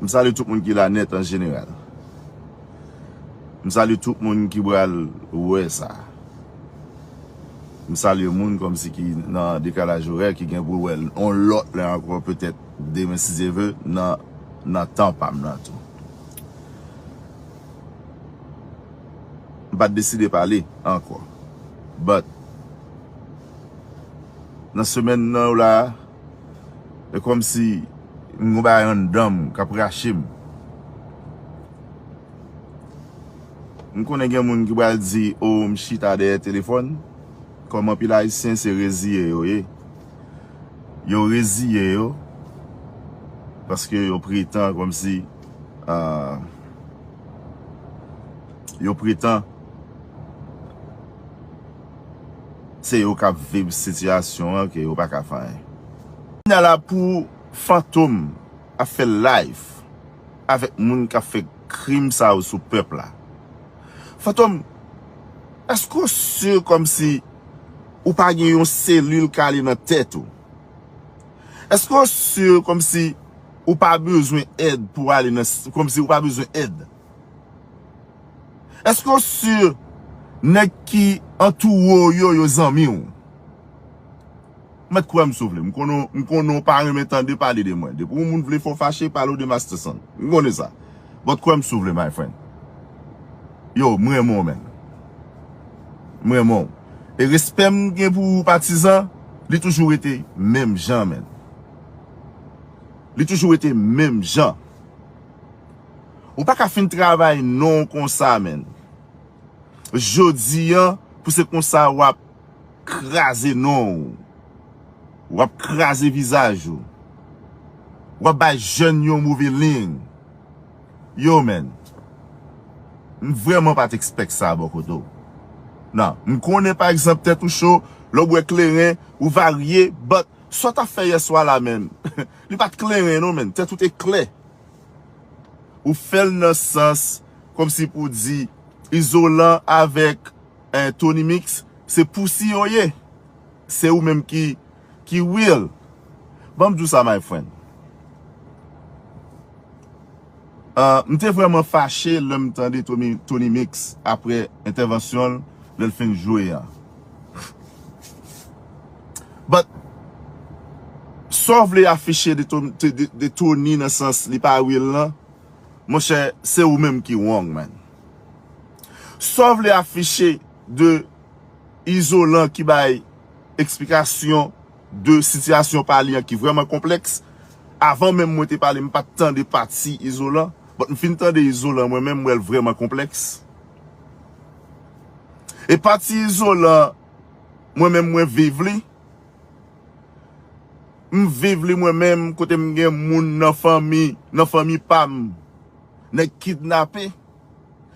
M salye tout moun ki la nèt an jeneral. M salye tout moun ki pral wè sa. M salye moun kòmsi ki nan dekalaj orè ki gen pou l wè l yon lòt lè ankò petèt demen si Dye ve nan tan pa m nan tou. M pa t deside pale ankò but nan semèn nan yo la a. E kòm si m gon bagay anndan m k ap rache m. M konnen gen moun ki pral di o m chita dèyè telefòn. Kòm anpil Ayisyen se reziye yo ye. Yo reziye yo paske yo pretan kòm si yo pretan. Se yo kap vib sitiyasyon an ke yo pa ka fè anyen. Kounya la pou fantom ap fè live avèk moun kap fè krim sa yo sou pèp la. Fantom eske ou si kòmsi ou pa gen yon selil kale nan tèt ou? Eske ou si kòmsi ou pa bezwen èd pou ale nan kòmsi ou pa bezwen èd? Eske w sur neg ki antoure w yo yo zanmi w? Ou met kwem si w vle. M konnen w pa renmen tande pale de mwen. Depi yon moun vle fè w fache pale w de Masterson. M konnen sa. But kwem si w vle my friend. Yo, m renmen w man. M renmen w. E respè m gen pou ou patizan, li toujou rete menm jan man. Li toujou rete menm jan. Ou paka fin travay non konsa menn. Jodi an pou se konsa wap kraze non ou. Wap kraze vizaj ou. Wap bay jèn yo move ling. Yo menn. M vrèman pat ekspèk sa bò kote w. Nan. M konnen pa egzanp tèt ou cho, lè w bwè kleren, ou varye, but sa w tap fè yèswa la menn. Li pat kleren non menn. Tèt ou te klè. Ou fèl nan sans kòm si pou di izolan avèk tony mix se pousi yo ye se ou menm ki ki real banm diw sa my friend ahh m te vrèman fache lèm tande tony mix aprè entèvansyonl lèl fin jwe a. But, sa w vle afiche de Tony nan sans li pa real lan, monchè, se ou menm ki wrong man. Sa w vle afiche de Izolan ki bay eksplikasyon de sitiyasyon pa li an ki vrèman konplèks, avan menm mwen te pale m pa t tande pati Izolan, but m fin tande Izolan mwen menm m wè l vrèman konplèks. E pati izolan mwen menm mwen viv li. M viv li mwen menm kote m gen moun nan fanmi, nan fanmi pa m. Nèg kidnape.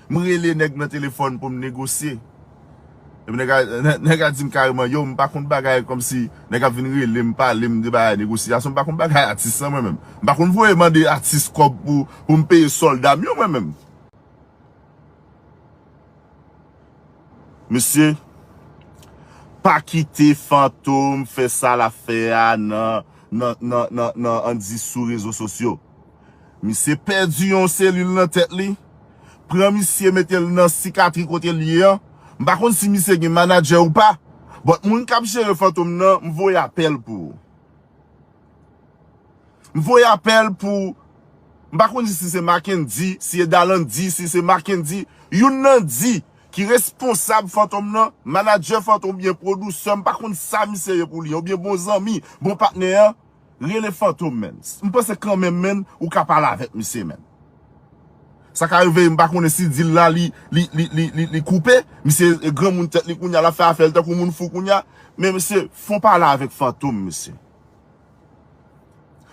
M rele nèg nan telefòn pou m negosye. Epi nèg la, nèg la di m kareman, yow m pa konn bagay kòm si nèg ap vin rele m, pale m de bagay negosyasyon. M pa konn bagay atis lan mwen menm. M pa konn voye mande atis kòb pou m peye sòlda m yo mwen menm. Mesye pa kite fantom fè sa lap fè a nan an di sou rezo sosyo. Misye pèdi yon selil nan tèt li. Pran misye mete l nan sikatri kote l ye an. M pa konn si misye gen manadjè ou pa. But moun kap jere fantom nan m voye apèl pou ou. M voye apèl pou, m pa konn si se Mackendy, si e Dalandy, si se Mackendy, youn nan di ki responsab Fantom nan, manadjè Fantom oubyen pwodousè, m pa konn sa misye ye pou li an, oubyen bon zanmi, bon patnè an, rele Fantom menn. M panse kanmenm menn ou ka pale avèk misye menn. Sa ka rive m pa konnen si dil la li, li, li, li, li, li koupe, misye granmoun tèt li kounya, l ap fè afè l tankou moun fou kounya, men mesye, fon pale avèk Fantom mesye.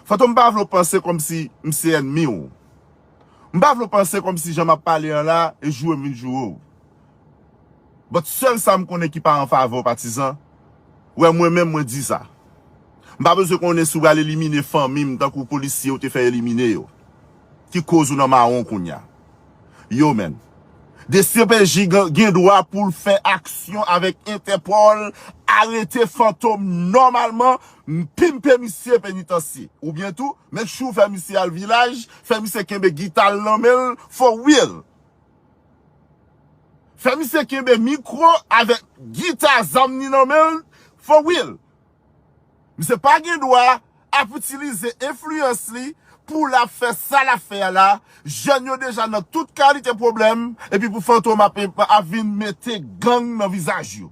Fantom m pa vle w panse kòmsi m se ènmi w. M pa vle w panse kòmsi jan m ap pale an la e joure m vin joure w. But sèl sa m konnen ki pa an favè w patizan, wè mwen menm mwen di sa. M pa bezwen konnen si w pral elimine fanmi m tankou polisye ou te fè elimine yo. Ki koz ou nan mawon kounya. yo menm. Dcpj gen dwa pou l fè aksyon avèk Entèpòl, arete Fantom nòmalman, pimpe misye penitansye. Oubyen tou, make sure fè misye al vilaj, fè misye kenbe gita l nan men l for real. Fè misye kenbe mikwo avèk gita zam ni nan men l for real. Misye pa gen dwa ap itilize enfliyans li pou l ap fè sa l ap fè a la, jèn yo deja nan tout kalite pwoblèm epi pou Fantom ap vin mete gang nan vizaj yo.